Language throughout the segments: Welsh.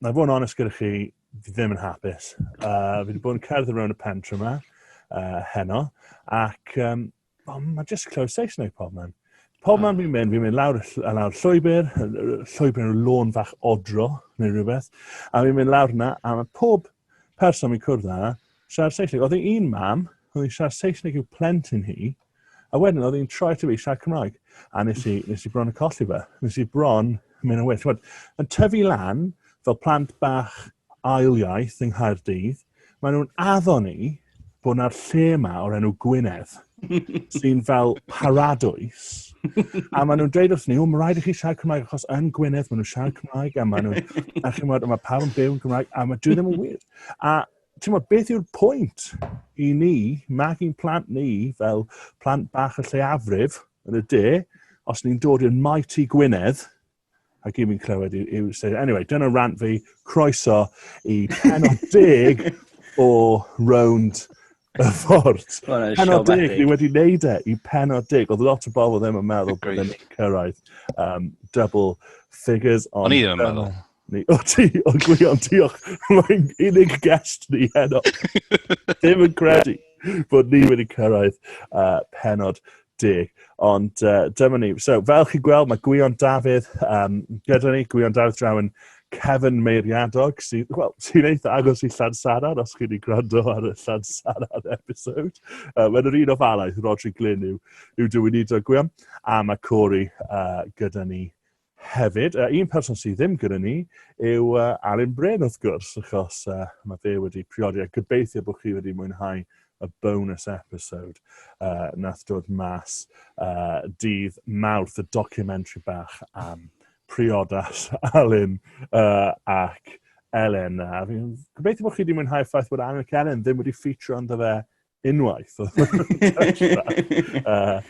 na fod yn onest gyda chi, fi ddim yn hapus. Uh, fi wedi bod yn cerdded rownd y pentre yma, uh, heno, ac um, oh, mae jyst clywed Saesneg pob man. Pob man fi'n mynd, fi'n mynd lawr, lawr llwybr, llwybr yn lôn fach odro, neu rhywbeth, a fi'n mynd lawr yna, a mae pob person fi'n cwrdd â, siarad Saesneg. Oedd un mam, oedd hi'n siarad Saesneg i'w plentyn hi, A wedyn oedd hi'n troi ato fi i siarad Cymraeg. A nes i, nes i bron y colli fe. Nes i bron mynd yn well. Chwbod, yn tyfu lan fel plant bach ail iaith yng Nghaerdydd, maen nhw'n addo ni bod yna'r lle yma o'r enw Gwynedd sy'n fel paradwys. A maen nhw'n dweud wrth ni, o, mae rhaid i chi siarad Cymraeg, achos yn Gwynedd maen nhw'n siarad Cymraeg, a maen nhw'n, a chi'n meddwl, mae pawb yn byw yn Cymraeg, a mae dwi ddim yn wir. A ti'n modd, beth yw'r pwynt i ni magu'n plant ni fel plant bach y lleiafrif yn y de, os ni'n dod i'r maet i Gwynedd, a gyd fi'n clywed yw, yw anyway, dyna rant fi, croeso i penod deg o rownd y ffordd. Penod deg, ni wedi wneud e i penod deg, oedd lot o bobl ddim yn meddwl bod yn cyrraedd um, double figures. O'n i ddim yn meddwl. Ni, o ti, o Gwion, diolch. Mae'n unig guest ni heno. Ddim yn credu bod ni wedi cyrraedd uh, penod deg. Ond uh, dyma ni. So, fel chi'n gweld, mae Gwion Dafydd um, gyda ni, Gwion Dafydd Drawen, Kevin Meiriadog, sy'n well, sy eitha agos i Llansaran, os chi'n ei gwrando ar y Llansaran episode. Uh, Mae'n yr un o falaeth, Rodri Glyn yw, yw dywynidog Gwion, a mae Corey uh, gyda ni Hefyd, un person sydd ddim gyda ni yw Alun Bryn wrth gwrs, achos mae fe wedi priodi, a gobeithio bod chi wedi mwynhau y bonus episode uh, nath dod mas uh, dydd Mawrth, y documentary bach am priodas Alun uh, ac Elen. A fi'n gobeithio bod chi wedi mwynhau ffaith bod Alun ac Elen ddim wedi ffitro ynddo fe unwaith. uh,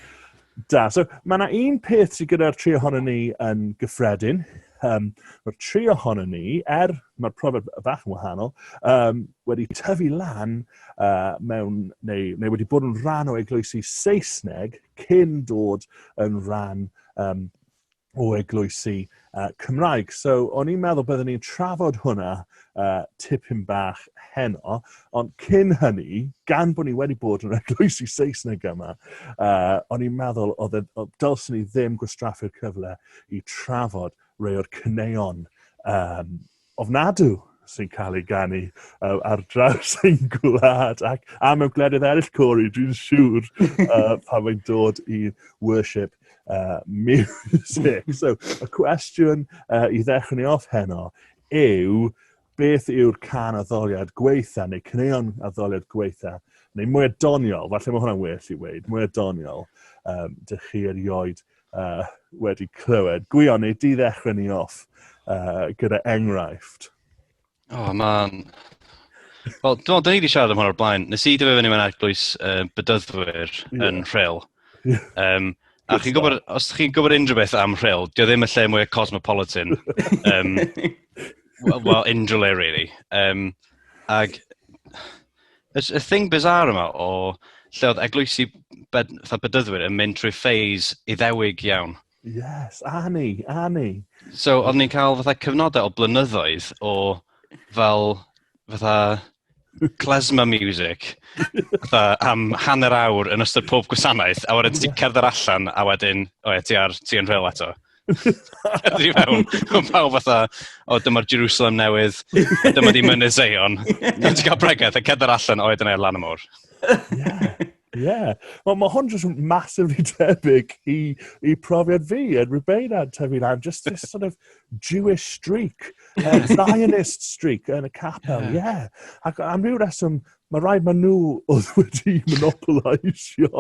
da. So, mae yna un peth sydd gyda'r tri ohono ni yn gyffredin. Um, mae'r tri ohono ni, er mae'r profiad fach yn wahanol, um, wedi tyfu lan uh, mewn, neu, neu wedi bod yn rhan o eglwysi Saesneg cyn dod yn rhan um, o eglwysi uh, Cymraeg. So, o'n i'n meddwl byddwn ni'n trafod hwnna uh, tipyn bach heno, ond cyn hynny, gan bod ni wedi bod yn eglwysi Saesneg yma, uh, o'n i'n meddwl oedd e, dylsyn ni ddim gwastraffu'r cyfle i trafod rei o'r cyneuon um, ofnadw sy'n cael ei ganu uh, ar draws ein gwlad ac a mewn gwledydd eraill, Cori, dwi'n siŵr uh, pan mae'n dod i worship uh, music. So, y cwestiwn uh, i ddechrau ni off heno yw beth yw'r can addoliad gweitha neu cyneuon addoliad gweitha neu mwy doniol, falle mae hwnna'n well i weid, mwy doniol, um, dych chi erioed uh, wedi clywed. Gwion, neu di ddechrau ni off uh, gyda enghraifft. Oh, man. Wel, dwi'n meddwl, ni wedi siarad am hwn o'r blaen. Nes i dyfu fyny mewn eglwys uh, bydyddwyr yeah. yn rhel. Yeah. Um, a chi'n gwybod, os chi'n gwybod unrhyw beth am rhel, dio ddim y lle mwy cosmopolitan. um, well, well, unrhyw le, really. Um, ag, Y y thing bizarre yma o lle oedd eglwysi bed, fatha bedyddwyr yn mynd trwy ffeis iddewig iawn. Yes, a ni, a ni. So, oedd ni'n cael fatha cyfnodau o blynyddoedd o fel fatha klezmer music fatha am hanner awr yn ystod pob gwasanaeth, a wedyn ti'n cerdded allan a wedyn, o ie, ti ar, ti yn rheol eto. Ydy mewn, mewn pawb fatha, o dyma'r Jerusalem newydd, a dyma di mynydd Zion. Dwi'n ti cael bregaeth a cedda'r allan oed yn ei lan y môr. Ie, ie. Wel, mae hwn jyst yn massively tebyg i, i profiad fi yn Rubeina yn tyfu lan. Just this sort of Jewish streak, uh, Zionist streak yn y capel, ie. Yeah. Ac am ryw reswm, Mae rhaid maen nhw oedd wedi monopolisio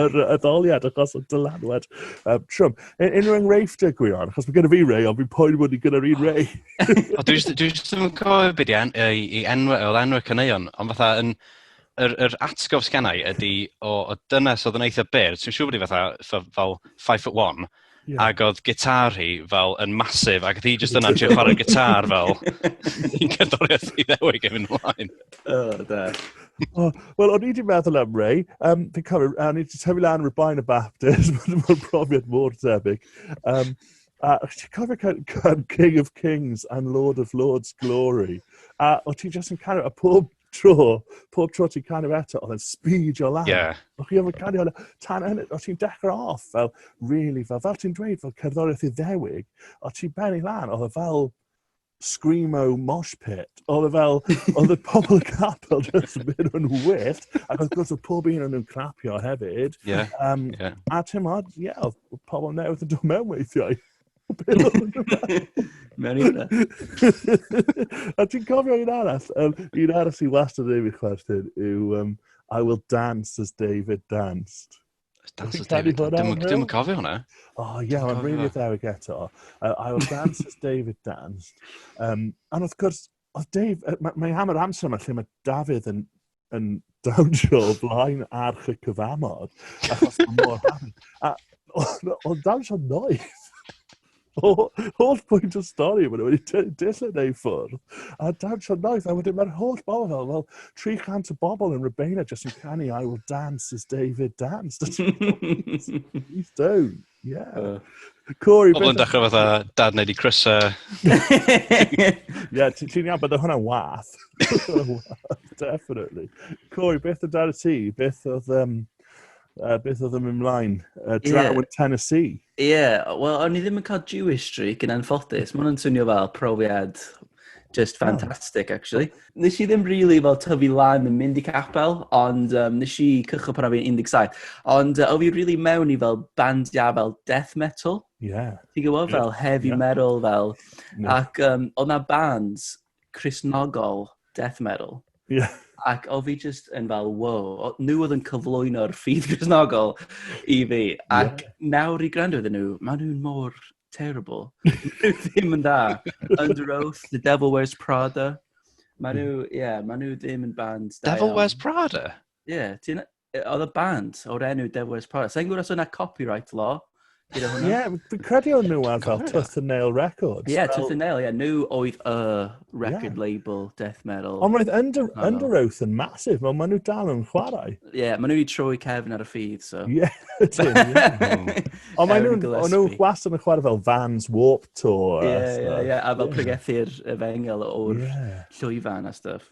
yr addoliad achos o dylanwad um, trwm. Un- Unrhyw enghreifft y gwion, achos mae gen i fi rei, ond fi'n poen bod ni gyda'r un rei. O, dwi jyst dwi jyst ddim yn cofio beth i en- i i enw oedd enw y caneuon, ond fatha yn yr yr atgof sgennai ydy o o dynes oedd yn eitha byr, ti'n siŵr bod hi fatha fatha fel five foot one, Yeah. Ac oedd gitar hi fel yn masif, ac oedd hi jyst yna trio chwarae gitar fel yn cerddoriaeth i ddewig yn mynd ymlaen. Oh, da. oh, Wel, o'n i wedi meddwl am Ray. Um, fi'n cofio, o'n i wedi tyfu lan rhyw bain y Baptist, mae'n profiad mor debyg. Um, a ti'n cofio can, can King of Kings and Lord of Lords Glory? A o ti jyst yn cario, a pob tro, pob tro ti'n canu eto, oedd yn speedio lan. Yeah. O'ch chi ofyn canu hwnna, tan hynny, o'ch ti'n dechrau off fel, really, fel, fel ti'n dweud, fel cerddoriaeth iddewig, o'ch ti'n benni lan, oedd e fel screamo mosh pit. Oedd e fel, oedd y pobl y capel jyst yn mynd yn wyllt, ac oedd gwrs oedd pob un o'n nhw'n clapio hefyd. Yeah. Um, yeah. A ti'n modd, ie, yeah, oedd pobl newydd yn dod mewn weithiau. Mewn i hwnna. A ti'n cofio un arall? Um, un arall sy'n wastad yn ei fi chwerthin yw um, I will dance as David danced. Dance as David danced. Dwi'n cofio hwnna. Oh, yeah, mae'n really atheric eto. Uh, I will dance as David danced. Um, and of course, Oedd Dave, mae, mae am yr amser yma lle mae Dafydd yn, yn dawnsio o blaen arch y cyfamod, achos mae mor hawdd. A oedd dawnsio noeth. Holl pwynt y stori, maen nhw wedi dillen ei ffwrdd. A dawnsio noeth, a wedyn mae'r holl bobl fel, fel 300 o bobl yn Rybena jyst yn canu I will dance as David danced. Please don't. Yeah. Uh, Corey, Pobl yn dechrau fatha, dad wneud i crysa. Ie, ti'n iawn, bydd hwnna'n wath. Definitely. Corey, beth o dad y ti? Beth oedd... Um, uh, beth oedd yn mynd mlaen? Uh, draw yeah. yn Tennessee. Ie, yeah. wel, o'n i ddim yn cael Jewish streak yn anffodus. Mae'n swnio fel profiad Just fantastic, actually. Nes i ddim really fel tyfu lan yn mynd i capel, ond um, nes i cychwyn pan o'n i'n 17. Ond uh, o fi really mewn i fel bandiau fel death metal. Yeah. Ti'n gwybod, fel yeah. heavy yeah. metal, fel. Yeah. Ac um, oedd na bands Christnogol death metal. Yeah. Ac o fi just yn fel, wow, nhw oedd yn cyflwyno'r ffydd Christnogol i fi. Ac yeah. nawr i gwrando iddyn nhw, maen nhw'n mor terrible. Mae ddim yn da. Under Oath, The Devil Wears Prada. Mae nhw, hmm. ie, yeah, mae nhw ddim yn band. Devil Wears Prada? Ie, yeah, ti'n... Oedd y band o'r enw Devil Wears Prada. Sa'n gwybod os yna copyright law? Ie, yeah, fi'n credu o'n nhw ar fel Tooth and Nail Records. Ie, yeah, Tooth and Nail, ie. Yeah. Nhw oedd y record yeah. label death metal. Ond roedd Under, Under Oath yn masif, ond maen nhw dal yn chwarae. Ie, yeah, maen nhw wedi troi cefn ar y ffydd, so. Ie, ydyn. Ond maen nhw gwas yn chwarae fel Vans Warp Tour. Ie, ie, ie, a fel pregethu'r efengel o'r llwyfan a stuff.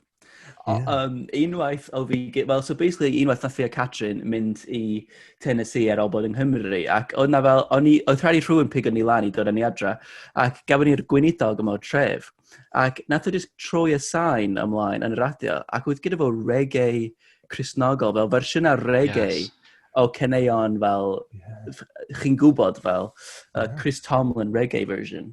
O, yeah. um, unwaith o fi... Wel, so basically, unwaith nath fi a Catrin mynd i Tennessee ar ôl bod yng Nghymru, ac oedd na fel, o'n i, oedd rhaid i rhywun pig o'n i lan i dod yn ei adra, ac gafon ni'r gweinidog yma o'r tref, ac nath o just troi y sain ymlaen yn y radio, ac oedd gyda fo reggae Crisnogol, fel fersiynau reggae, yes o ceneuon fel, yeah. chi'n gwybod fel, uh, Chris Tomlin reggae version.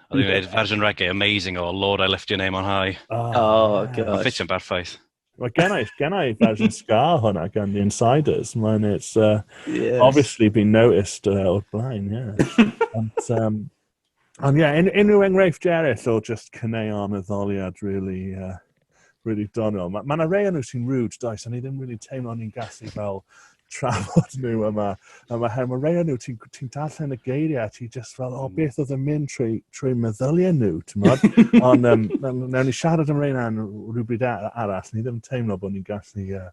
Oedd hi'n gwneud fersiwn reggae amazing o Lord I Lift Your Name on High. Oh, oh gosh. Mae'n ffitio'n berffaith. Mae gen i, gen i fersiwn ska hwnna gan The Insiders. Mae'n it's uh, yes. obviously been noticed uh, o'r blaen, yeah. Ond, um, ond yeah, un, unrhyw enghreifftiau eraill o just cyneuon y ddoliad, really, uh, really doniol. Mae ma yna rei o'n nhw sy'n rude, does, a ni ddim really teimlo ni'n gallu fel trafod nhw yma. A mae her, mae rei o'n nhw, ti'n ti darllen y geiriau, ti'n just fel, o, hmm. beth oedd yn mynd trwy, trwy meddyliau nhw, ti'n modd? Ond um, newn ni siarad am reina yn rhywbryd arall, ni ddim teimlo bod ni'n gallu uh,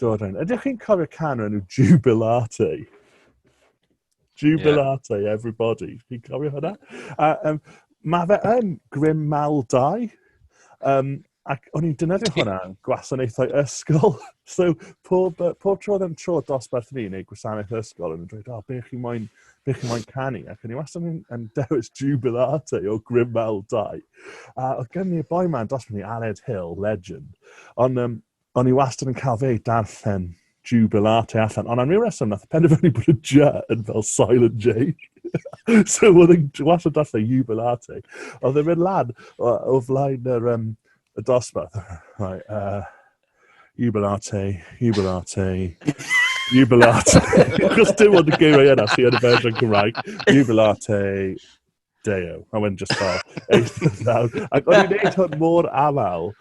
dod rhain. Ydych chi'n cofio can o'r enw Jubilate? Jubilate, yeah. everybody. Fi'n cofio hynna. A, um, mae fe yn grym mal dau. Um, ac o'n i'n dynyddio hwnna yn gwasanaethau ysgol. so, pob, pob tro ddim tro dosbarth ni neu gwasanaeth ysgol yn dweud, o, oh, be chi moyn, be chi moyn canu? Ac o'n i wastad yn, yn dewis Jubilate o Grym Mal 2. A oedd gen i'r boi ma'n dosbarth ni, Aled Hill, legend. Ond um, O'n i wastad yn cael fe darllen Jubilate allan, ond am ryw reswm nath y penderfynu bod y J yn fel silent J. so oedd yn wastad darllen Jubilate. Oedd yn mynd lan o, o flaen yr, um, y dosbarth. Right, uh, Jubilate, Jubilate, Jubilate. Chos dim ond y geiriau yna sy'n yn y fersiwn Cymraeg. Jubilate, Deo. A wedyn just fel, eistedd lawr. Ac o'n i'n neud hwn mor aml,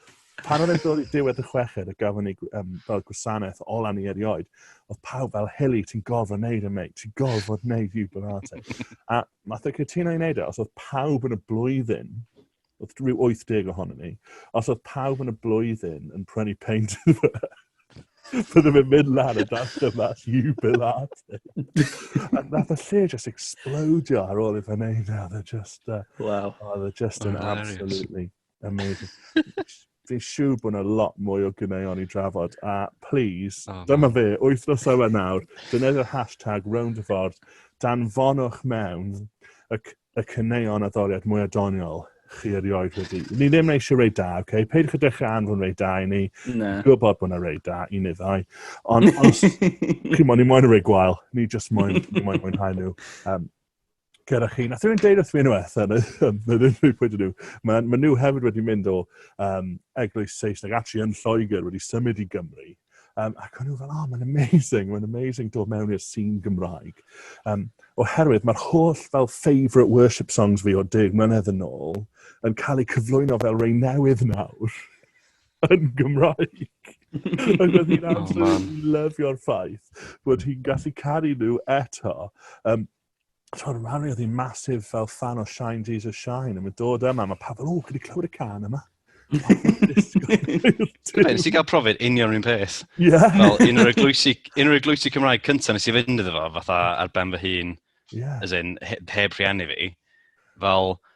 pan o'n i'n dod i diwedd y chweched a gafon ni um, fel gwasanaeth ola ni erioed, oedd pawb fel, Hili, ti'n gorfod wneud yn e, mate, ti'n gorfod wneud yw barate. a math o cytuno i wneud e, os oedd pawb yn y blwyddyn oedd rhyw 80 ohono ni, os oedd pawb yn y blwyddyn yn prynu peint iddo fe, byddwn i'n mynd lan y dasg yma, you bill arty. a nath y lle just explodio ar ôl i fe wneud e, oedd e just, uh, wow. oedd e just yn absolutely amazing. Dwi'n siŵr bod yna lot mwy o gyneuon i drafod, a please, oh, dyma fe, wythnos yma nawr, defnyddio'r hashtag round y ffordd, danfonwch mewn y, y cyneuon a ddoriad mwy adoniol chi erioed wedi. Ni ddim eisiau rei da, oce? Okay? Peidiwch y dechrau anfon rei da i ni. Na. Gwybod bod yna rei da i ni ddau. Ond os, chi'n moyn, ni moyn rei gwael. Ni just moyn, ni moyn mwynhau nhw. Um, gyda chi. Nath rhywun deud wrth mi unwaith, yn yr unrhyw pwynt nhw, mae, mae nhw hefyd wedi mynd o um, eglwys Saesneg, actually yn Lloegr, wedi symud i Gymru. Um, ac o'n nhw fel, oh, mae'n amazing, mae'n amazing dod mewn i'r sîn Gymraeg. Um, oherwydd mae'r holl fel favourite worship songs fi o deg mlynedd yn ôl yn cael eu cyflwyno fel rei newydd nawr yn Gymraeg. Ac oedd hi'n oh, absolutely lyfio'r ffaith bod hi'n gallu caru nhw eto. Um, tro yma, mi oedd hi'n masif fel fan o Shine Jesus Shine, a mae'n dod yma, mae pawb fel, o, chi wedi clywed y can yma? Nes i gael profiad union rhywun peth. Yeah. Fel un o'r eglwysi, un o'r eglwysi Cymraeg cyntaf nes i fynd iddo fo, fatha ar ben fy hun, yeah. as in, heb rhieni fi. Fel,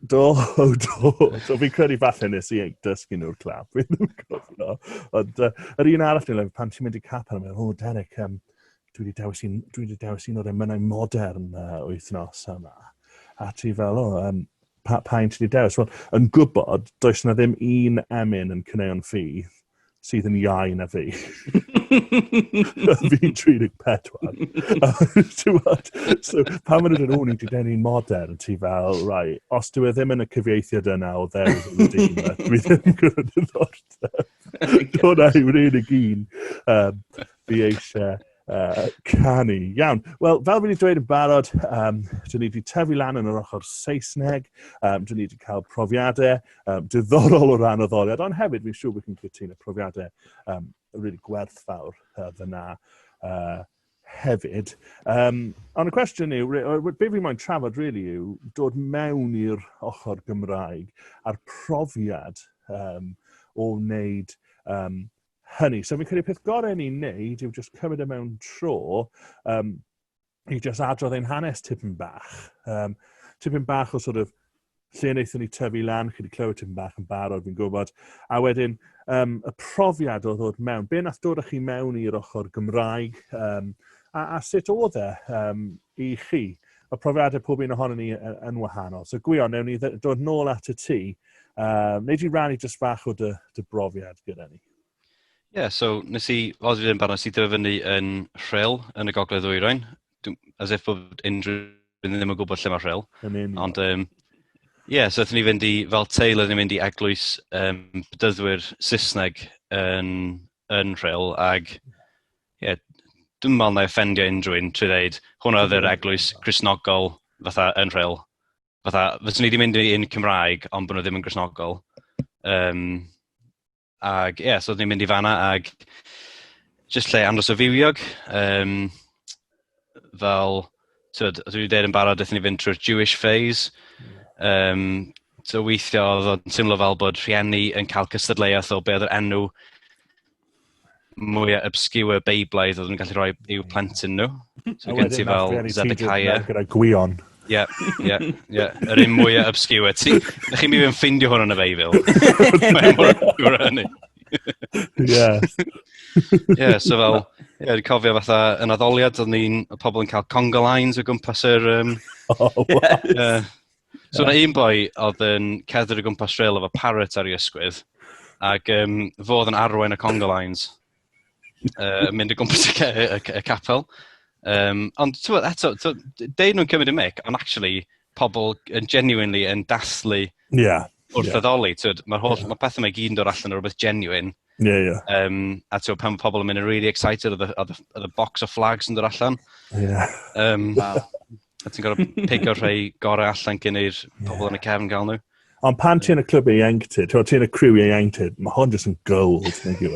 Do, do, do. Fi'n credu falle nes i dysgu nhw'r clap. Fi ddim yn cofio. Ond uh, yr un arall ni'n pan ti'n mynd i cap arno, o, Derek, um, dwi wedi dewis un, dwi wedi dewis un o'r emynau modern uh, wythnos yma. A ti fel, o, um, pa, pa un ti wedi dewis? Wel, yn gwybod, does na ddim un emyn yn cyneuon ffi sydd yn iau na fi. Fi'n 34. so, pan maen nhw'n o'n i'n dweud ni'n modern, ti fel, rai, os dwi e ddim yn y cyfieithiad yna o ddew yn y dyn, dwi ddim yn gwrdd yn ddordeb. Dyna yw rhaid i gyn. Um, fi eisiau Uh, canu. Iawn. Wel, fel fi wedi dweud yn barod, um, dyn ni wedi tyfu lan yn yr ochr Saesneg, um, dyn ni wedi cael profiadau um, diddorol o ran o ddoliad, ond hefyd fi'n siŵr bod chi'n cytun y profiadau um, really gwerthfawr uh, fyna uh, hefyd. Um, ond y cwestiwn yw, be fi'n moyn trafod really yw dod mewn i'r ochr Gymraeg a'r profiad um, o wneud um, hynny. So fi'n credu peth gorau ni'n neud yw just cymryd y e mewn tro um, i just adrodd ein hanes tipyn bach. Um, tipyn bach o sort of lle wnaethon ni tyfu lan, chi wedi clywed tipyn bach yn barod, fi'n gwybod. A wedyn, um, y profiad o ddod mewn, be nath dod â chi mewn i'r ochr Gymraeg, um, a, a sut oedd e um, i chi? Y profiadau pob un ohono ni yn, yn wahanol. So gwion, newn ni ddod nôl at y tŷ Um, neu di rannu jyst fach o dy, dy brofiad gyda ni? Ie, yeah, so nes i, os fi yn barod, nes i dyfu fyny yn rhyl yn y gogledd ddwyrain, as if bod unrhyw ddim yn gwybod lle mae rhyl. Ond, ie, um, yeah, so ydyn ni fynd i, fel teil, ydyn ni fynd i eglwys um, bydyddwyr Saesneg yn, yn rhyl, ag, ie, yeah, dwi'n meddwl na offendio unrhyw un trwy ddeud, hwnna oedd yr eglwys Cresnogol fatha yn rhyl. fatha, fyswn i wedi mynd i un Cymraeg, ond bod nhw ddim yn grisnogol. Um, ac ie, yeah, so oeddwn i'n mynd i fanna ac jyst lle andros o fywiog. Um, fel, tyd, os dwi'n dweud yn barod, ydyn ni fynd trwy'r Jewish phase. Um, so weithio oedd o'n teimlo fel bod rhieni yn cael cystadleuaeth o be oedd yr enw mwyaf obscure Beiblaidd oedd yn gallu rhoi i'w plentyn nhw. So gen ti fel Zedekiah. Gyda gwion. Ie, ie, ie. Yr un mwyaf obscure. Ti, chi mi fy'n ffindio hwn yn y Beibl. Mae'n mor obscure hynny. Ie. Ie, so fel, ie, yeah, cofio fatha yn addoliad, oedd ni'n pobl yn cael conga lines o gwmpas yr... Um, oh, wow. yeah, So yna un boi oedd yn cerdded o gwmpas rhail efo parrot ar ei ysgwydd, ac um, fo oedd yn arwain y conga lines, uh, mynd o gwmpas y, y, y, y capel. Um, ond ti'n bod, eto, deud nhw'n cymryd y mic, ond actually, pobl yn genuinely yn dathlu yeah. wrth yeah. addoli. Mae holl, yeah. mae pethau mae gyd yn dod allan o rhywbeth genuine. Yeah, yeah. Um, a ti'n pan mae pobl yn mynd yn really excited, oedd y box of flags yn dod allan. Yeah. Um, A ti'n gorfod pigo rhai gorau allan gen i'r pobl yn y cefn gael nhw. Ond pan ti'n y clwb i ieuenctid, ti'n ti'n y criw i ieuenctid, mae hon jyst yn gold, neu gyw.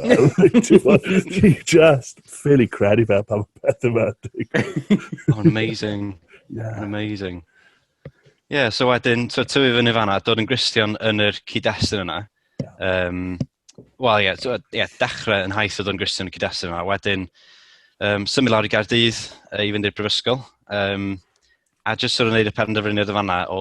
Ti'n just ffili credu fe pan mae peth yma. Oh, amazing. Yeah. Amazing. Ie, yeah, so wedyn, so tyfu fyny fanna, dod yn gristion yn yr cyd-destun yna. Ie. Um, Wel, ie, yeah, yeah, dechrau yn haith oedd o'n Griston y Cydasyn yma. Wedyn, um, symud lawr i Gardydd uh, i fynd i'r brifysgol. Um, a jyst sort of wneud y penderfyniad y fanna o,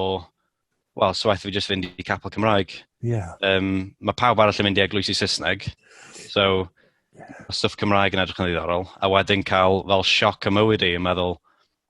wel, so waith fi jyst fynd i capel Cymraeg. Yeah. Um, mae pawb arall yn mynd i eglwysi Saesneg. So, yeah. stwff Cymraeg yn edrych yn ddiddorol. A wedyn cael fel sioc y mywyd i, yn meddwl,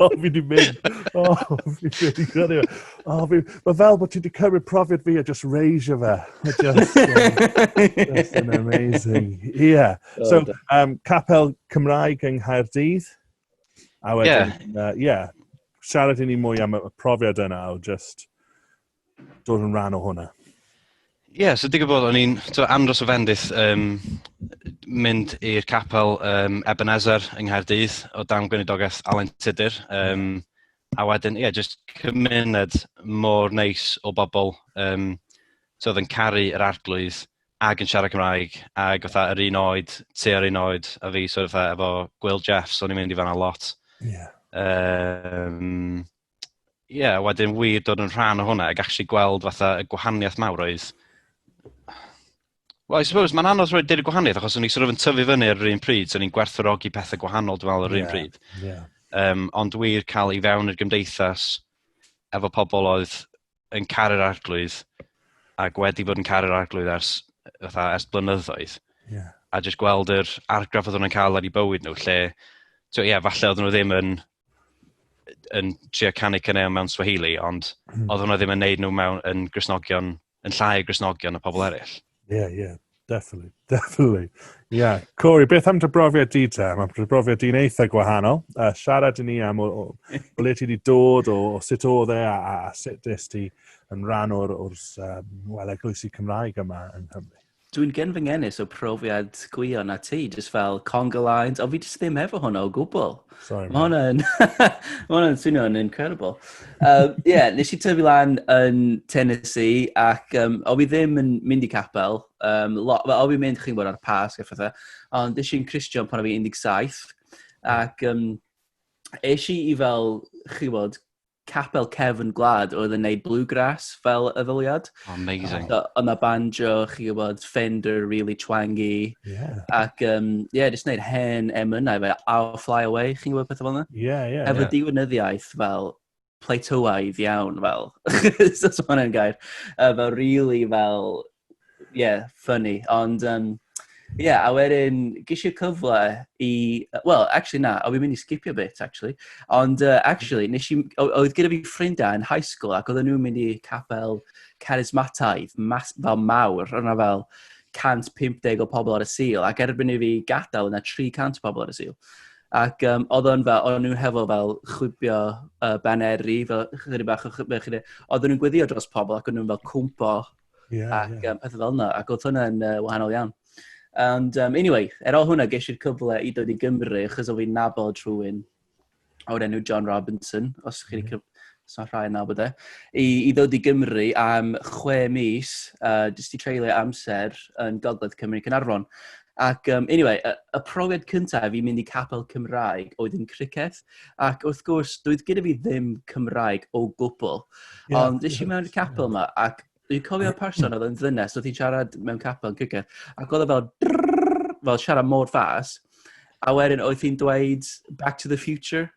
o, fi di mynd. O, fi di gyrru. O, fi... Mae fel bod ti wedi cymryd profiad fi a just raise fe. Just, just an amazing. Yeah. Oh, so, um, capel Cymraeg yng Nghaerdydd. A wedyn, yeah. Uh, yeah. Siarad i ni mwy am y profiad yna o just dod yn rhan o hwnna. Ie, yeah, so digwyd bod o'n i'n andros o fendith um, mynd i'r capel um, Ebenezer yng Nghaerdydd o dan gwynidogaeth Alan Tudur. Um, a wedyn, ie, yeah, just cymuned mor neis o bobl um, so oedd yn caru yr arglwydd ag yn siarad Cymraeg ag oedd yr un oed, ti ar un oed a fi, so oedd efo Gwyl Jeffs, o'n i'n mynd i fanna lot. Yeah. Um, ie, yeah, wedyn wir dod yn rhan o hwnna ac actually gweld fatha y gwahaniaeth mawr oedd... Well, I suppose, mae'n anodd rhoi dweud y gwahaniaeth, achos o'n i sort of yn tyfu fyny ar yr un pryd, so o'n i'n gwerthorogi pethau gwahanol, dwi'n meddwl, ar yr yeah, un pryd. Yeah. Um, ond wir cael i fewn i'r gymdeithas efo pobl oedd yn caru'r arglwydd ac wedi bod yn caru'r arglwydd ers, fatha, ers blynyddoedd. Yeah. A jyst gweld yr argraff oedd nhw'n cael ar ei bywyd nhw, lle, ie, yeah, falle oedd nhw ddim yn, yn trio canu cyneu mewn Swahili, ond mm. oedd nhw ddim yn neud nhw mewn yn grisnogion, yn llai o grisnogion y pobl eraill. Yeah, yeah, definitely, definitely. Yeah. Corey, beth am dy brofiad di te? Mae dy brofiad di'n eitha gwahanol. Uh, siarad i ni am o, o, o le ti wedi dod, o, o sut oedd e, a, a, a sut nes ti yn rhan o'r, or, um, well, eglwysi Cymraeg yma yn Nghymru. Dwi'n gen fy ngenus o profiad gwio na ti, jyst fel conga lines, ond fi jyst ddim efo hwnna o gwbl. Sorry, Mae hwnna yn... Mae hwnna yn swnio yn incredible. Um, yeah, nes i tyfu lan yn Tennessee ac um, o fi ddim yn mynd i capel. Um, lot, o fi mynd chi'n bod ar pas a phethau. Ond nes i'n Christian pan o fi 17. Ac um, eisiau i fel, chi bod, capel cefn gwlad oedd yn neud bluegrass fel y ddyliad. Amazing. So, ond mae banjo, chi gwybod, Fender, really twangy. Yeah. Ac, um, yeah, just neud hen emynau fe, I'll Fly Away, chi'n gwybod pethau fel yna? Yeah, yeah. Efo yeah. diwynyddiaeth fel plateauaidd iawn, fel. so, so hwnna'n gair. Uh, fel really fel Ie, funny. Ond, um, ie, yeah, a wedyn, gysi cyfle i... Wel, actually na, o fi'n mynd i skipio bit, actually. Ond, uh, actually, nes i... Oedd gyda fi ffrindiau yn high school ac oedden nhw'n mynd i capel carismataidd, mas, fel mawr, o'na fel 150 o pobl ar y sil, ac erbyn i fi gadael yna 300 pobl ar y sil. Ac um, oedd o'n fel, oedd nhw'n hefo fel chwibio uh, baneri, fel chyddi bach o chwibio, chyddi. Oedd nhw'n gweddio dros pobl ac oedd nhw'n fel cwmpo Yeah, ac yeah. Um, pethau fel yna, ac oedd hwnna'n uh, wahanol iawn. And um, anyway, er o hwnna, ges i'r cyfle i dod i Gymru, achos o fi'n nabod rhywun o'r enw John Robinson, os chi'n mm. Os rhai yn nabod e. I, I ddod i Gymru am chwe mis, uh, jyst i treulio amser yn Gogledd Cymru Cynarfon. Ac, um, anyway, y, y profiad cyntaf i mynd i capel Cymraeg oedd yn criceth, ac wrth gwrs, doedd gyda fi ddim Cymraeg o gwbl. Yeah. Ond nes i mewn i'r capel yma, ac dwi'n cofio person oedd yn ddynes, oedd hi'n siarad mewn capel yn cygedd, ac oedd o fel, drrrr, fel siarad mor fas, a wedyn oedd hi'n dweud Back to the Future,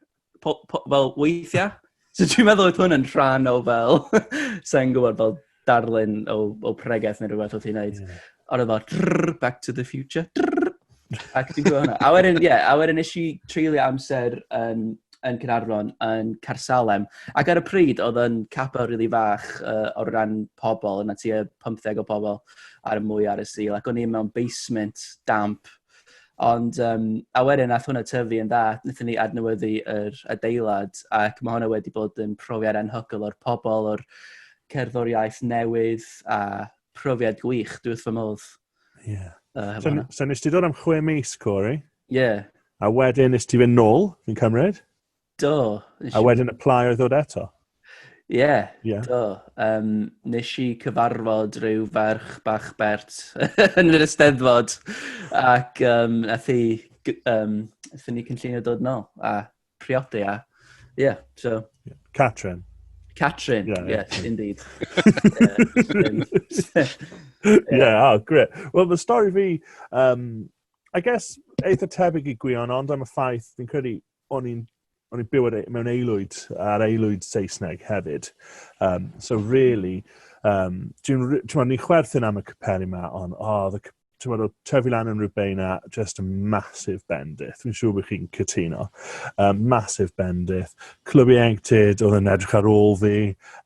po, po, fel weithiau. So dwi'n meddwl oedd hwn yn rhan o fel, sa'n gwybod, fel darlun o, o pregeth neu rhywbeth oedd hi'n neud. Yeah. Ond oedd o, drrrr, Back to the Future, drrrr. Ac ti'n gwybod hwnna. A wedyn, ie, yeah, a wedyn nes i treulio amser yn, yn Cynarfon, yn Carsalem. Ac ar y pryd, oedd yn capel rili really fach uh, o ran pobl, yna ti 15 o pobl ar y mwy ar y sil. Ac o'n i mewn basement damp. Ond, um, a wedyn, nath hwnna tyfu yn dda, wnaethon ni adnewyddu yr adeilad, ac mae hwnna wedi bod yn profiad anhygol o'r pobl, o'r cerddoriaeth newydd, a profiad gwych, dwi wrth fy modd. Ie. Yeah. Uh, so, so nes ti ddod am chwe mis, Corey? Ie. Yeah. A wedyn nes ti fynd nôl, fi'n cymryd? Do. A wedyn y plai oedd ddod eto? Ie, yeah, yeah. do. Um, nes i cyfarfod rhyw ferch bach bert yn yr ysteddfod ac um, nath i, um, nath ni cynllunio dod nôl a priodi a... Ie, so... Catrin. Catrin, yeah, yeah. yes, indeed. yeah, oh, great. Wel, fy stori fi, um, I guess, eitha tebyg i gwion, ond am y ffaith, fi'n credu, o'n i'n o'n i'n byw e- mewn aelwyd, ar aelwyd Saesneg hefyd. Um, so really, um, dwi'n, ti'n ni chwerthin am y capelli yma, ond, oh, the, ti'n meddwl, trefi lan yn rhywbeth na just a massive bendith. Fi'n siŵr bod chi'n cytuno. Um, massive bendith. Clybu enctid oedd yn edrych ar ôl fi.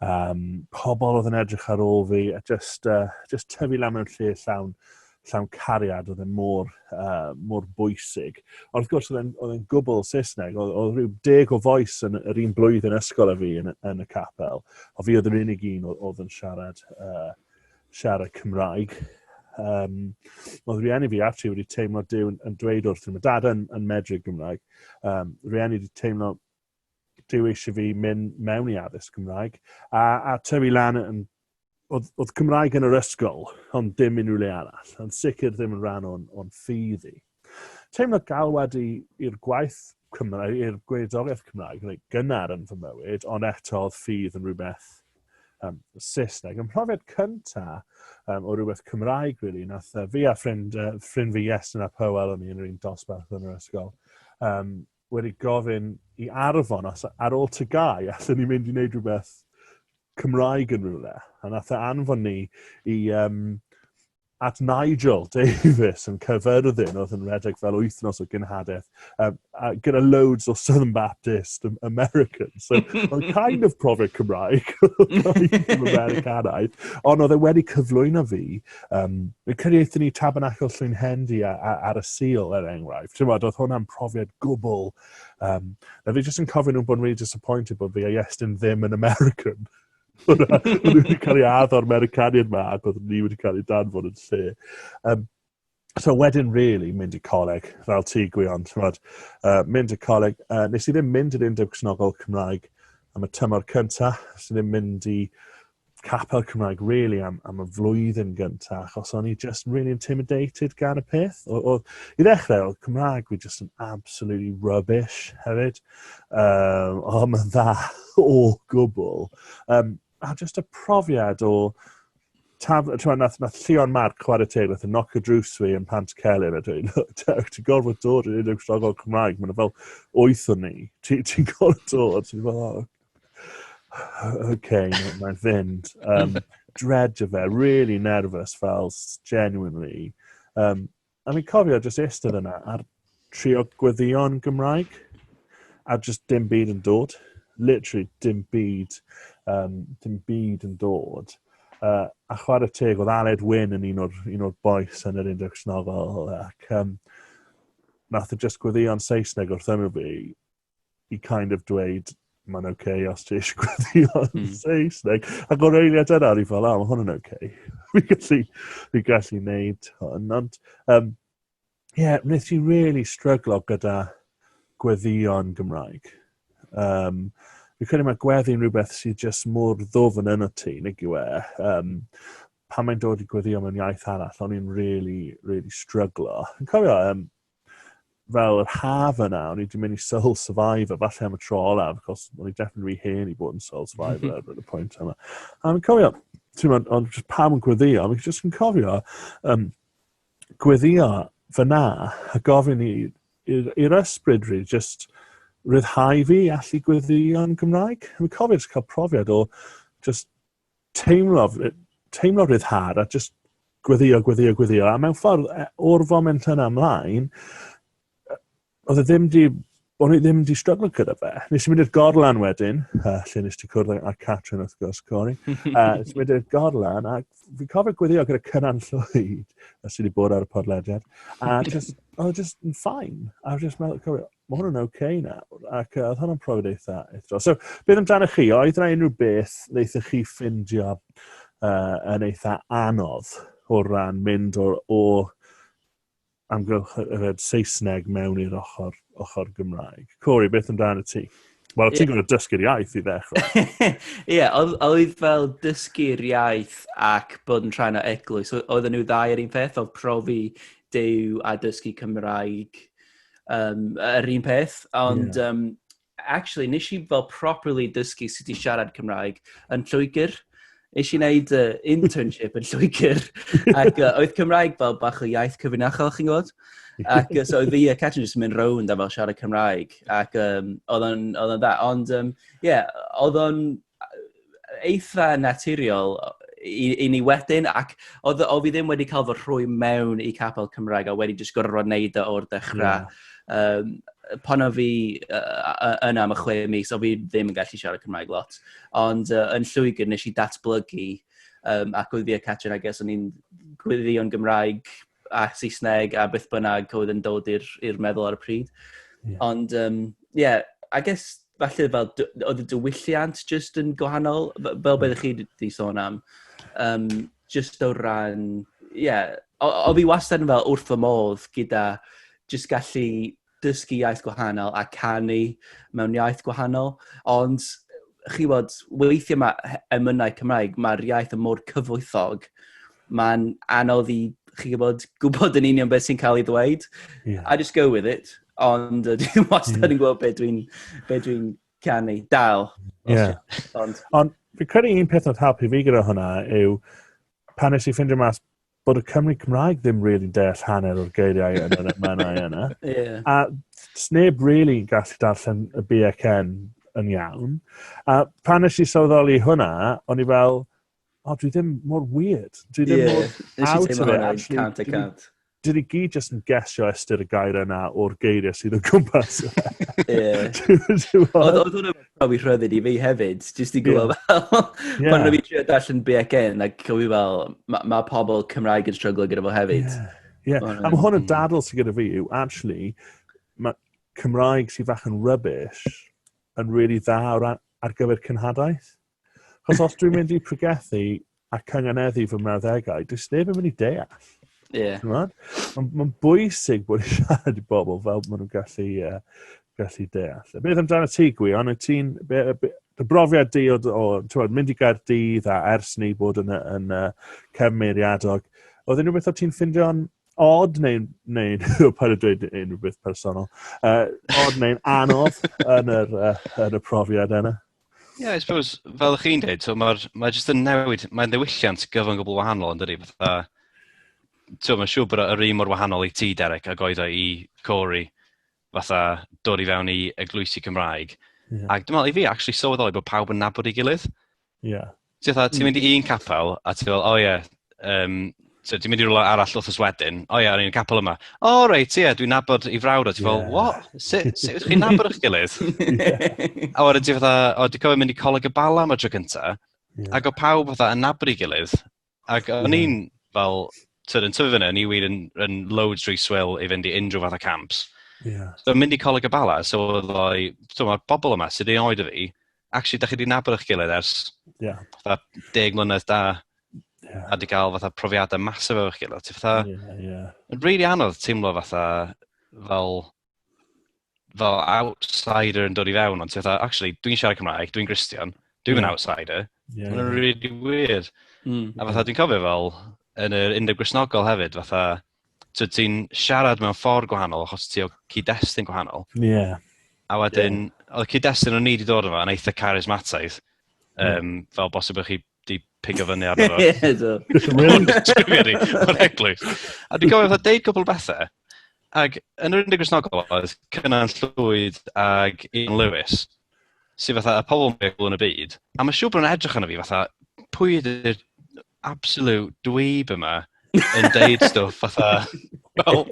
Um, pobl oedd yn edrych ar ôl fi. A just, uh, just trefi lan mewn lle llawn, llawn cariad oedd yn e mor, uh, mor bwysig. Ond wrth gwrs, oedd yn gwbl Saesneg. Oedd, oedd rhyw deg o foes yn yr un blwyddyn ysgol a fi yn, yn y capel. O fi oedd yr unig un oedd yn siarad uh, siarad Cymraeg. Um, oedd rhieni fi actually wedi teimlo Dyw yn dweud wrth i, mae dad yn, yn medru Gymraeg. Um, rhieni wedi teimlo Dyw eisiau fi mynd mewn i addysg Gymraeg. A, a tyfu lan yn oedd, oedd Cymraeg yn yr ysgol, ond dim unrhyw le arall. Ond sicr ddim yn rhan o'n, on ffydd i. Teimlo galwad i, i'r gwaith Cymraeg, i'r gweddoriaeth Cymraeg reit gynnar yn fy mywyd, ond eto oedd ffydd yn rhywbeth um, Saesneg. Ym mhrofiad cynta um, o rhywbeth Cymraeg, really, nath uh, fi a ffrind, uh, ffrind fi Iestyn a Powell o'n i yn yr un dosbarth yn yr ysgol, um, wedi gofyn i arfon os ar ôl tygau allwn ni mynd i wneud rhywbeth Cymraeg yn rhywle. A nath e anfon ni i um, at Nigel Davies yn Caerfyrddin oedd yn redeg fel wythnos o gynhadaeth um, a gyda loads o Southern Baptist Americans. So, oedd kind of profiad Cymraeg, Americanaidd, ond oedd e wedi cyflwyno fi. Um, Rwy'n credu eithon ni Tabernacle Llwyn Hendy ar y Sil, er enghraifft. Ti'n oedd hwnna'n profiad gwbl. Um, na fi jyst yn cofio nhw'n bod yn really disappointed bod fi a Iestyn ddim yn American. Oedden nhw wedi cael ei addo o'r Americaniad yma ac oedden ni wedi cael ei danfod yn lle. Um, So wedyn, really, mynd i coleg, fel ti gwion, tymod, uh, mynd i coleg. Uh, nes i ddim mynd i'r Undeb Cnogol Cymraeg am y tymor cyntaf, nes i ddim mynd i capel Cymraeg, really, am, am y flwyddyn gyntaf, achos o'n i just really intimidated gan y peth. O, o, I ddechrau, oedd Cymraeg fi just yn absolutely rubbish hefyd. Um, o, oh, mae'n dda o gwbl. Um, a just y profiad o... Taf, twa, nath, nath Llion Marc chwarae teg, nath yn noc y drws fi yn Pant Celyn, a dwi'n, ti'n gorfod dod yn unig strogol Cymraeg, mae'n fel oeth o'n ni, ti'n ti gorfod dod, ti'n fel, oh, okay, mae'n fynd. Um, dredge fe, really nervous fel, genuinely. Um, A fi'n cofio jyst eistedd yna ar trio gweddion Gymraeg a jyst dim byd yn dod. Literally dim byd, um, dim byd yn dod. Uh, a chwarae teg, oedd Aled Wyn yn un o'r, un o'r boes yn yr index novel ac um, nath y e jyst gweddion Saesneg wrth ymwyl fi i kind of dweud, mae'n oce okay, os ti eisiau gweithio yn mm. Saesneg. Ac o'r eiliad yna, o'n i fel, a, mae hwn yn oce. Okay. fi gallu, fi gallu neud hwn. Ond, um, yeah, wnes i really stryglo gyda gweddion Gymraeg. Um, fi credu mae gweddi'n rhywbeth sydd jyst mor ddofn yn y ti, nid yw e. Um, pan mae'n dod i gweddio mewn iaith arall, o'n i'n really, really stryglo. Yn cofio, um, fel yr haf yna, o'n i wedi mynd i Soul Survivor, falle am y tro olaf, cos o'n i definitely rhy hen i bod yn Soul Survivor ar y pwynt yma. A fi'n cofio, ti'n mynd, ond just pam yn gweddio, fi'n just yn cofio um, gweddio fyna a gofyn i'r ysbryd rhi, just rhyddhau fi allu yn Gymraeg. Fi'n cofio just cael profiad o just teimlo, teimlo rhyddhad a just gweddio, gweddio, gweddio. A mewn ffordd, e, o'r foment yna ymlaen, oedd e ddim di, o'n i ddim di struggle gyda fe. Nes i mynd i'r gorlan wedyn, uh, lle nes ti cwrdd â Catrin wrth gwrs, Cori. Uh, nes i mynd i'r gorlan, a fi cofio gweddio gyda cynnan llwyd, a sydd wedi bod ar y podlediad. A just, oedd e just yn ffain. A just meddwl, cofio, Mae hwn yn ok nawr, ac uh, oedd hwnna'n profiad eitha eithro. So, beth amdanoch chi? Oedd yna unrhyw beth wnaethoch chi ffindio uh, yn eitha anodd o ran mynd o, o amgylch yfed Saesneg mewn i'r ochr, ochr Gymraeg. Corey, beth amdano ti? Wel, ti'n yeah. gwneud dysgu'r iaith i ddechrau. Ie, yeah, oedd fel dysgu'r iaith ac bod yn rhan o eglwys. Oedd nhw ddau yr un peth, oedd profi dew a dysgu Cymraeg um, yr un peth, ond yeah. um, actually, nes i fel properly dysgu sut i siarad Cymraeg yn Lloegr. Nes i wneud uh, internship yn Lloegr, ac uh, oedd Cymraeg fel bach o iaith cyfrinachol, chi'n gwybod? Ac uh, so oedd fi a Catrin jyst yn mynd rownd a fel siarad Cymraeg, ac um, oedd o'n dda. Ond, ie, um, yeah, oedd o'n eitha naturiol i, i ni wedyn, ac o, o fi ddim wedi cael fy rhwy mewn i capel Cymraeg, a wedi jyst gorfod wneud e o'r dechrau. Yeah. Um, pan o fi uh, yna am y chwe mis, o fi ddim yn gallu siarad Cymraeg lot. Ond uh, yn llwygr nes i datblygu, um, ac oedd fi a Catrin, I guess, o'n i'n gwirion Gymraeg a Saesneg a beth bynnag oedd yn dod i'r meddwl ar y pryd. Yeah. Ond, ie, um, yeah, I guess, falle fel, oedd y diwylliant just yn gwahanol, fel beth ydych chi wedi sôn am. Um, just o ran, ie, yeah, o, o fi wastad yn fel wrth fy modd gyda just gallu dysgu iaith gwahanol a canu mewn iaith gwahanol, ond chi bod, weithiau mae emynau Cymraeg, mae'r iaith yn mor cyfoethog, mae'n anodd i chi gwybod, gwybod yn union beth sy'n cael ei ddweud. Yeah. I just go with it, ond dwi'n wastad yn gwybod beth dwi'n be dwi canu. Dal. Yeah. Ond, ond fi'n credu un peth oedd helpu fi gyda hwnna yw pan nes i ffindio mas bod y Cymry Cymraeg ddim really deall hanner o'r geiriau yn yr emynau yna. yeah. A sneb really yn gallu darllen y BXN yn iawn. A pan nes i sylweddoli hwnna, o'n i fel, o, oh, dwi ddim mor weird. Dwi ddim yeah. mor out of it, actually. Cant a cant. Dwi wedi gyd just yn gesio ystyr y gair yna o'r geiriau sydd o gwmpas. Oedd hwnna profi rhyddid i fi hefyd, jyst i gwybod yeah. fel, yeah. pan rwy'n trio darllen BCN, ac cofio fel, mae ma pobl Cymraeg yn stryglo gyda fo hefyd. Yeah. Yeah. A mae hwn yn dadl sy'n gyda fi yw, actually, mae Cymraeg sy'n fach yn rubbish yn really dda ar, ar gyfer cynhadaeth. Chos os dwi'n mynd i pregethu a cynganeddu fy mrawddegau, does neb yn mynd i deall. Ie. Mae'n ma bwysig bod i'n siarad i bobl fel maen nhw'n gallu, uh, gallu deall. A beth amdano ti, Gwion? Ti'n... Dy brofiad di o, o tywed, mynd i Gaerdydd a ers ni bod yn, yn uh, cefn meiriadog, oedd unrhyw beth o ti'n ffindio'n odd neu'n neu, neu pan y dweud unrhyw beth personol, uh, odd neu'n anodd yn, yr, uh, yn y profiad yna? Ie, yeah, I suppose, fel ych chi'n dweud, so mae'r mae jyst yn newid, mae'n ddewishiant gyfan gwbl wahanol yn dydi, fatha, so mae'n siŵr bod yr un mor wahanol i ti, Derek, ac oedd o i Corey, fatha, dod i fewn i eglwysi Cymraeg. Yeah. Ac dwi'n meddwl, i fi, actually sylweddoli bod pawb yn nabod i gilydd. Yeah. Ti'n fatha, ti'n mynd i un capel, a ti'n fel, o ie, um, so, ti'n mynd i rhywle arall wrth yswedyn, o ie, o'n i'n capel yma. O, oh, reit, ie, yeah, dwi'n nabod i frawd, a ti'n fel, yeah. what? Sut si, si, chi'n nabod eich gilydd? yeah. A wedyn ti'n fatha, o, dwi'n cofio mynd i coleg y bala am y tro cynta, yeah. ac o pawb fatha yn nabod i gilydd, ac o'n i'n fel, tyd, yn tyfu fyny, o'n i wir yn, yn loads rhy swil i fynd i unrhyw fath o camps. Yeah. So, mynd i coleg y bala, so oedd o, ti'n mae'r bobl yma sydd ei oed o fi, actually, da chi wedi nabod eich gilydd ers yeah. fatha deg mlynedd da, yeah. a wedi cael fatha profiadau masif efo'ch gilydd. Ti'n fatha, yeah, yeah. yn really anodd teimlo fatha fel fel outsider yn dod i fewn, ond ti'n fatha, actually, dwi'n siarad Cymraeg, dwi'n Gristion, dwi'n yeah. outsider. Yeah. Mae'n really weird. Mm. A fatha, dwi'n cofio fel, yn yr undeb grisnogol hefyd, fatha, so ti'n siarad mewn ffordd gwahanol achos ti o cyd-destun gwahanol. Ie. Yeah. A wedyn, yeah. oedd cyd-destun o'n ni wedi dod yma yn eitha carismataidd, um, yeah. fel bosib ych chi di pigo fyny ar yma. Ie, do. Mae'n eglwys. A dwi'n gofio fatha deud cwbl bethau, ac yn yr unig grisnogol oedd Cynan Llwyd ag Ian Lewis, sydd fatha y pobl mwy o yn y byd, a mae siŵr bod nhw'n edrych yn y fi fatha, pwy ydy'r absolute dweeb yma yn deud stwff fatha, well,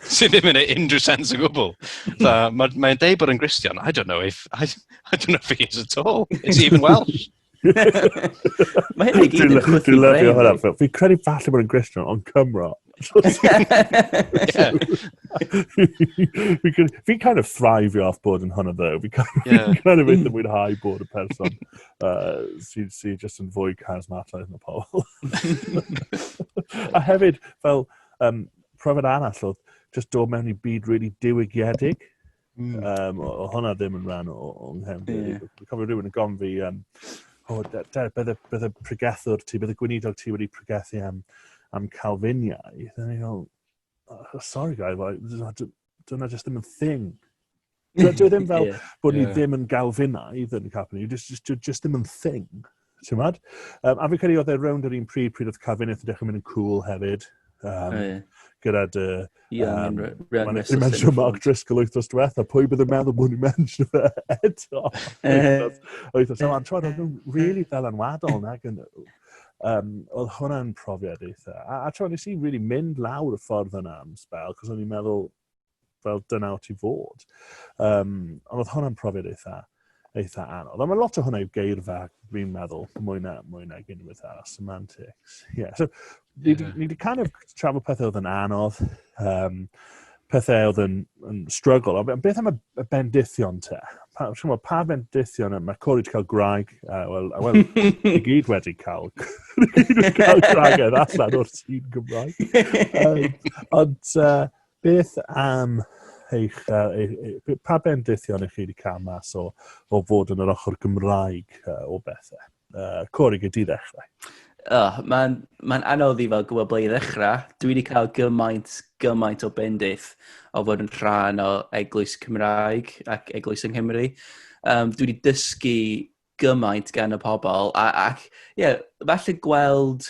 sydd ddim yn ei unrhyw sens o gwbl. Mae'n ma, ma deud bod yn Gristion, I don't know if, I, I don't know if he is at all. Is he even Welsh? Mae hyn i gyd yn chwythu brain. Dwi'n lyfio hwnna. Fi'n credu falle bod yn Gristion, ond Cymro. Fi'n kind of thrive off bod yn hwnna ddew. Fi'n kind, yeah. kind of eitha mm. mwynhau bod y person uh, sy'n sy just yn fwy charismataidd na pobl. a hefyd, fel, um, profiad arall oedd just dod mewn i byd really diwygiedig. Mm. Um, o, o hwnna ddim yn rhan o, o nghefndir. Yeah. Dwi'n cofio rhywun yn gofyn fi, um, oh, Derek, beth y, beth y pregethwr ti, beth y gweinidog ti wedi pregethu am, am Calfiniau? Then I go, oh, sorry guy, dyna jyst ddim yn thing. Dwi ddim fel yeah. bod ni yeah. ddim yn Galfinaidd yn Calfiniau, just, just, just ddim yn thing. Ti'n mad? Um, a fi'n credu oedd e rownd yr un pryd pryd oedd Cafeneth yn dechrau mynd yn cool hefyd. Um, oh, yeah. Gyda dy... Um, Mae'n eich mention Mark Driscoll wythnos diwetha. Pwy bydd yn meddwl bod ni'n mention fe eto? Wythnos. A'n trod, oedd nhw'n really ddylanwadol nag yn... Um, oedd hwnna'n profiad eitha. A, a trod, nes i really mynd lawr y ffordd yna am spel, cos o'n i'n meddwl, fel dyna o ti fod. Um, ond oedd hwnna'n profiad eitha, eitha anodd. Ond mae lot o hwnna yw geirfa, fi'n meddwl, mwy na, mwy na unwaith arall, semantics. Yeah. So, ni wedi yeah. kind of trafod pethau oedd yn anodd, um, pethau oedd yn, yn struggle. Ond beth am y, y bendithion te? Pa, mo, pa bendithion yma? Mae Corey wedi cael graig. Uh, Wel, well, i gyd wedi cael, wedi cael graig allan o'r tîn Gymraeg. Um, ond, uh, Beth am eich, uh, pa bendithion ych chi wedi cael mas o, o fod yn yr ochr Gymraeg uh, o bethau? Uh, Cori, gyd i ddechrau. Oh, Mae'n ma anodd i fel gwybod ble i ddechrau. Dwi wedi cael gymaint, gymaint o bendith o fod yn rhan o eglwys Cymraeg ac eglwys yng Nghymru. Um, dwi wedi dysgu gymaint gan y pobl, a, ac, ie, yeah, falle gweld,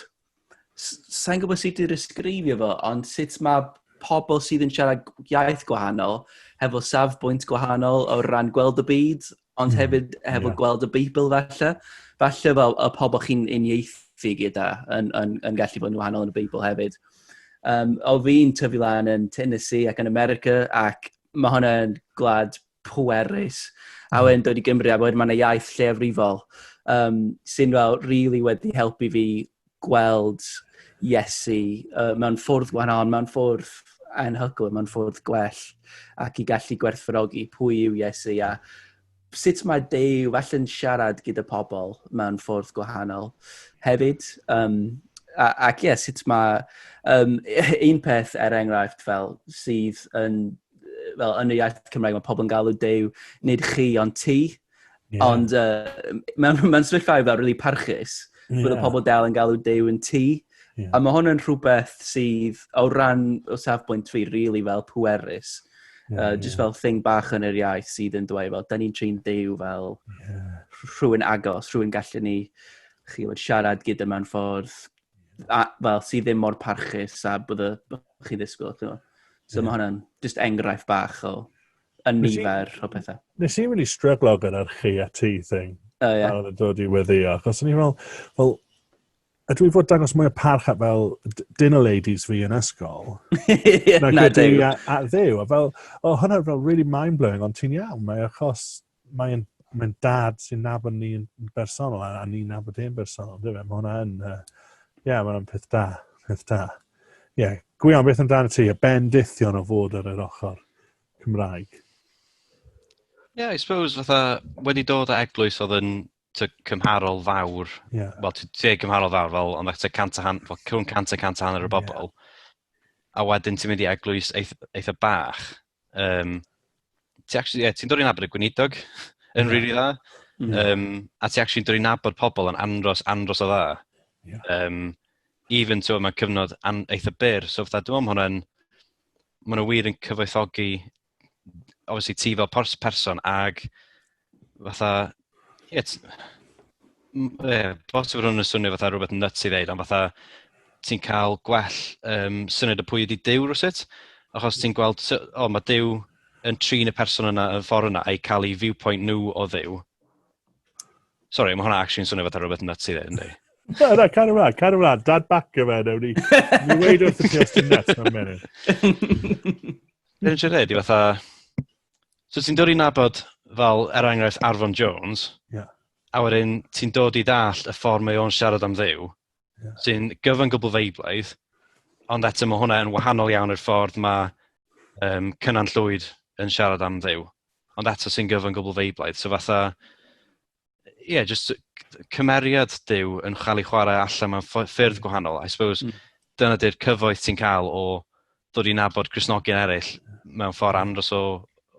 sa'n gwybod sut i'r ysgrifio fo, ond sut mae pobl sydd yn siarad iaith gwahanol, hefo safbwynt gwahanol o ran gweld y byd, ond mm, hefyd hefo yeah. gweld y Beibl falle. Falle fel y pobl chi'n unieithu gyda yn, yn, yn gallu bod yn wahanol yn y Beibl hefyd. Um, o fi'n tyfu lan yn Tennessee ac yn America ac mae hwnna'n gwlad pwerus. A hmm. wedyn dod i Gymru, a wedyn mae'n iaith lleiafrifol, um, sy'n fel rili really wedi helpu fi gweld Iesu uh, mewn ffwrdd gwahanol, mewn ffwrdd anhygol, mewn ffwrdd gwell, ac i gallu gwerthfarogi pwy yw Iesu a sut mae Dew falle'n siarad gyda pobl mewn ffwrdd gwahanol hefyd. Um, ac ie, yeah, sut mae um, un peth er enghraifft fel sydd yn fel yn y iaith Cymraeg, mae pobl yn galw dew, nid chi, ond ti. Yeah. Ond uh, mae'n ma sefyllfaoedd fel really parchus. Yeah. Bydd y pobl dal yn galw dew yn ti. Yeah. A mae hwn yn rhywbeth sydd, o ran o safbwynt fi, really fel pwerus. Yeah, uh, just yeah. fel thing bach yn yr iaith sydd yn dweud fel, da ni'n trin dew fel yeah. rhywun agos, rhywun gallu ni chi fod siarad gyda mewn ffordd a, fel, sydd ddim mor parchus a bod y chi ddisgwyl. So yeah. mae hwnna'n just enghraifft bach o yn nifer o bethau. Nes i'n really stryglo gyda'r chi a ti thing. Oh, yeah. A oedd yn dod i weddio. Achos o'n i'n fel, fel, a dwi fod dangos mwy o parch at fel dinner ladies fi yn ysgol. na, na ddew. A, a ddew. A fel, o, hwnna fel really mind-blowing, ond ti'n iawn, mae achos mae'n mae'n dad sy'n nabod ni yn bersonol a, a ni'n nabod e'n bersonol, dwi fe? Mae hwnna yn, uh, ie, yeah, mae'n peth da, peth da. Ie, yeah. gwion, beth amdano ti? Y bendithion o fod ar yr ochr Cymraeg. Ie, yeah, I suppose, fatha, wedi dod o eglwys oedd yn to cymharol fawr, yeah. wel, ti'n deg cymharol fawr, fel, ond eich cant a hanner, cwn cant a cant a hanner y bobl, yeah. a wedyn ti'n mynd i eglwys eitha, eitha bach, um, ti'n yeah, ti dod i'n abod y gweinidog yn rili really dda, mm. um, a ti'n actually dod i'n abod pobl yn andros, andros o dda. Yeah. Um, even to yma cyfnod an, eitha byr, so fydda dwi'n meddwl hwnna'n, maen nhw wir yn cyfoethogi obviously ti fel pers person ag fatha, ie, yeah, bos fod hwn yn swnio fatha rhywbeth nuts i ddeud, ond fatha ti'n cael gwell um, syniad y pwy ydi Dyw rhywbeth, achos ti'n gweld, o, oh, mae Dyw yn trin y person yna yn ffordd yna, a'i cael ei viewpoint nhw o ddew. Sorry, mae hwnna actually'n swnio fatha rhywbeth nuts i ddeud, ynddi? Na, na, cael ymlaen, cael ymlaen, dad bac o fe, newn ni. Ni weid wrth y ti os ti'n nuts, mae'n meddwl. Be dwi'n siarad i fatha... So ti'n dod i nabod fel, er enghraifft, Arfon Jones, yeah. a wedyn ti'n dod i ddall y ffordd mae o'n siarad am ddew, yeah. sy'n gyfan gwbl feiblaidd, ond eto mae hwnna yn wahanol iawn i'r ffordd mae um, Cynan Llwyd yn siarad am ddew, ond eto sy'n gyfan gwbl feiblaidd. So fatha, yeah, just cymeriad Dyw yn cael ei chwarae allan mewn ffyrdd gwahanol. I suppose mm. dyna dy'r cyfoeth ti'n cael o dod i nabod Cresnogion eraill mewn ffordd andros o,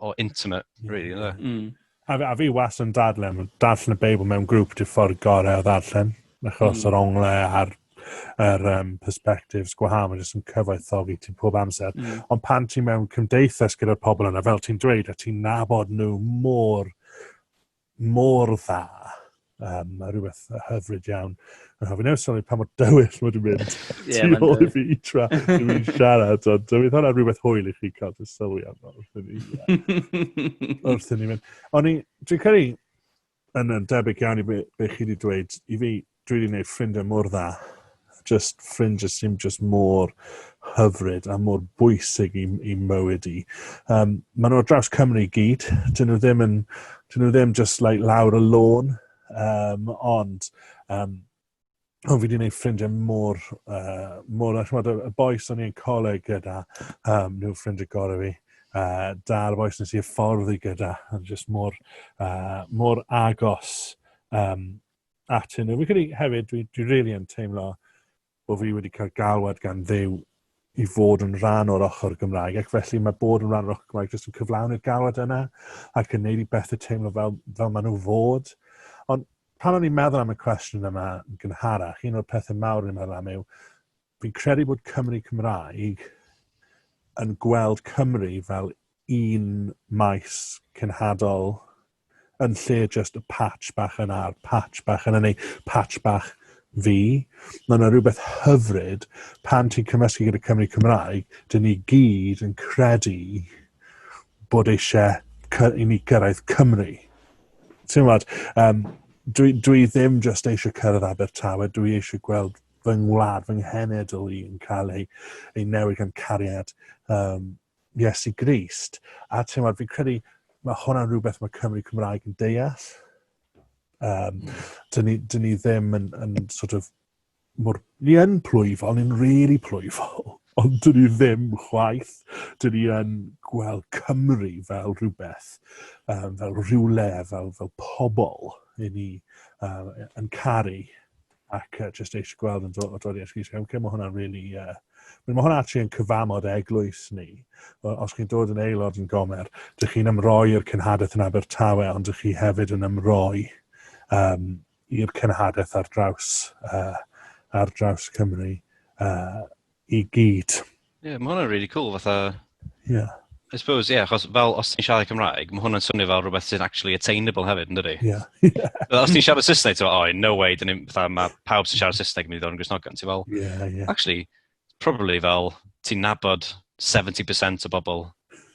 o intimate, really. Yeah. Mm. A, a fi was yn dadlen, darllen y Beibl mewn grŵp dy ffordd gorau o ddarllen, achos mm. yr ongle a'r er, um, perspectives gwahanol, jyst yn cyfoethogi ti pob amser. Mm. Ond pan ti mewn cymdeithas gyda'r pobl yna, fel ti'n dweud, a ti'n nabod nhw mor mor dda, um, a rhywbeth hyfryd iawn. Yn hoffi newid sylwi pa mor dywyll mae wedi mynd yeah, tu ôl i fi tra dwi'n mynd siarad, ond dwi'n hwnna rhywbeth hwyl i chi cael dy sylwi am wrth i ni, wrth i ni mynd. Ond dwi'n credu, yn, yn debyg iawn i be, be chi wedi dweud, i fi, Dwi wedi gwneud ffrindiau mor dda. Jyst ffrindiau sy'n jyst mor hyfryd a mor bwysig i, i mywyd i. Um, maen nhw ar draws Cymru i gyd. Dyn nhw ddim, yn, dyn nhw ddim just like, lawr y lôn. Um, ond um, o, fi wedi gwneud ffrindiau mor, uh, mor, achmod, y boes o'n i'n coleg gyda, um, nhw ffrindiau gorau fi, uh, da'r boes nes i'r ffordd i gyda, yn just mor, uh, mor agos um, atyn nhw. Fi'n credu hefyd, dwi, dwi really yn teimlo bod fi wedi cael galwad gan ddew i fod yn rhan o'r ochr Gymraeg, ac felly mae bod yn rhan o'r ochr Gymraeg jyst yn cyflawni'r galwad yna, ac yn neud i bethau teimlo fel, fel maen nhw fod. Ond pan o'n i'n meddwl am y cwestiwn yma yn gynharach, un o'r pethau mawr o'n i'n meddwl am yw, Fi'n credu bod Cymry Cymraeg yn gweld Cymru fel un maes cenhadol yn lle jyst y patch bach yn ar, patch bach yn neu patch bach fi. Mae yna rhywbeth hyfryd pan ti'n cymysgu gyda Cymru Cymraeg, dyn ni gyd yn credu bod eisiau i ni gyrraedd Cymru. Ti'n gwybod, um, dwi, dwi ddim jyst eisiau cyrraedd Abertawe, dwi eisiau gweld fy ngwlad, fy nghenedl i yn cael ei, ei newid gan cariad um, Iesu Grist. A teimlad, fi'n credu mae hwnna'n rhywbeth mae Cymru Cymraeg yn deall. Um, dyn, ni, dyn ni ddim yn, yn sort of, mor, ni yn plwyfol, ni'n really plwyfol, ond dyn ni ddim chwaith. Dyn ni yn gweld Cymru fel rhywbeth, um, fel rhywle, fel, fel pobl i ni um, yn caru ac uh, just eisiau gweld yn dod i'r ysgwys. Okay, mae hwnna'n really, uh, mae hwnna'n actually yn cyfamod eglwys ni. Os chi'n dod yn aelod yn gomer, dych chi'n ymroi i'r cynhadaeth yn Abertawe, ond dych chi hefyd yn ymroi um, i'r cynhadaeth ar draws, uh, ar draws Cymru. Uh, i gyd. Ie, yeah, mae hwnna'n really cool, fatha... Ie. Yeah. I suppose, ie, yeah, achos fel os ti'n siarad Cymraeg, mae hwnna'n swnio fel rhywbeth sy'n actually attainable hefyd, yn dydi? Ie. Yeah. yeah. os ti'n siarad Saesneg, ti'n oh, no way, dyn ni'n, fatha, mae pawb sy'n siarad Saesneg yn mynd i ddod yn grisnogan, ti'n fel... Ie, yeah, ie. Yeah. Actually, probably fel, ti'n nabod 70% o bobl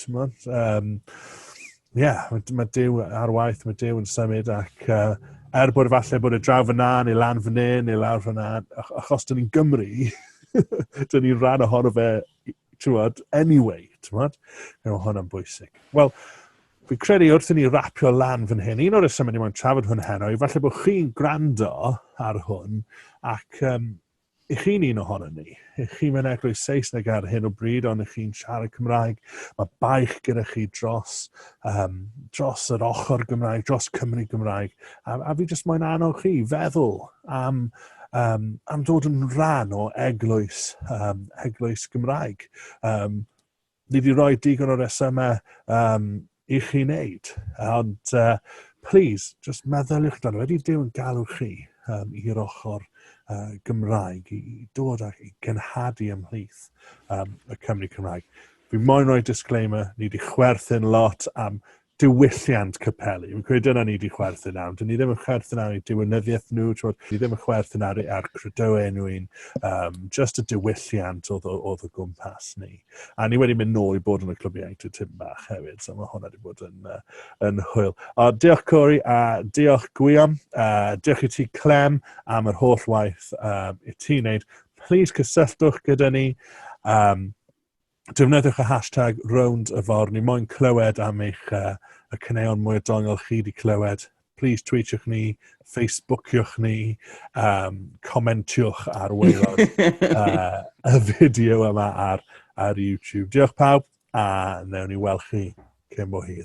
ti'n mwyn, um, yeah, mae, mae Dyw ar waith, mae Dyw yn symud ac uh, er bod falle bod y draw fyna neu lan fyny neu lawr fyna, achos dyn ni'n Gymru, dyn ni'n rhan ohono fe, ti'n anyway, ti'n mwyn, mae hwnna'n bwysig. Wel, fi credu wrth i ni rapio lan fan hyn, un o'r resymau ni moyn trafod hwn heno, i falle bod chi'n gwrando ar hwn, ac um, Y'ch chi'n un ohonon ni. Y'ch chi mewn eglwys Saesneg ar hyn o bryd, ond y'ch chi'n siarad Cymraeg. Mae baich gyda chi dros, um, dros yr ochr Gymraeg, dros Cymru Gymraeg. A, a fi jyst moyn annog chi feddwl am, um, am dod yn rhan o eglwys, um, eglwys Gymraeg. Um, Ni wedi rhoi digon o resymau um, i chi wneud, ond uh, please, just meddyliwch dan, wedi Dyw yn galw chi um, i'r ochr uh, Gymraeg, i dod ac i gynhadu ymhlith um, y Cymru Cymraeg. Fi moyn rhoi disclaimer, ni wedi chwerthin lot am diwylliant capelu. Fi'n credu dyna ni wedi chwerthin am. Dyn ni ddim yn chwerthin ar ei diwynyddiaeth nhw, twod, ni ddim yn chwerthin ar, ar credoau nhw un, um, just y diwylliant oedd, oedd y gwmpas ni. A ni wedi mynd nôl i bod yn y clwb ieuenctid tyn bach hefyd, so mae hwnna wedi bod yn, uh, yn hwyl. O, diolch Cori, a uh, diolch Gwion, a uh, diolch i ti Clem am yr holl waith um, i ti'n neud. Please cysylltwch gyda ni. Um, Defnyddiwch y hashtag RowndYfor, ni moyn clywed am eich uh, y caneuon mwy o dongol chi wedi clywed. Please tweetiwch ni, Facebookiwch ni, um, comentiwch ar waelod uh, y fideo yma ar, ar YouTube. Diolch pawb, a newn ni weld chi cyn bo hir.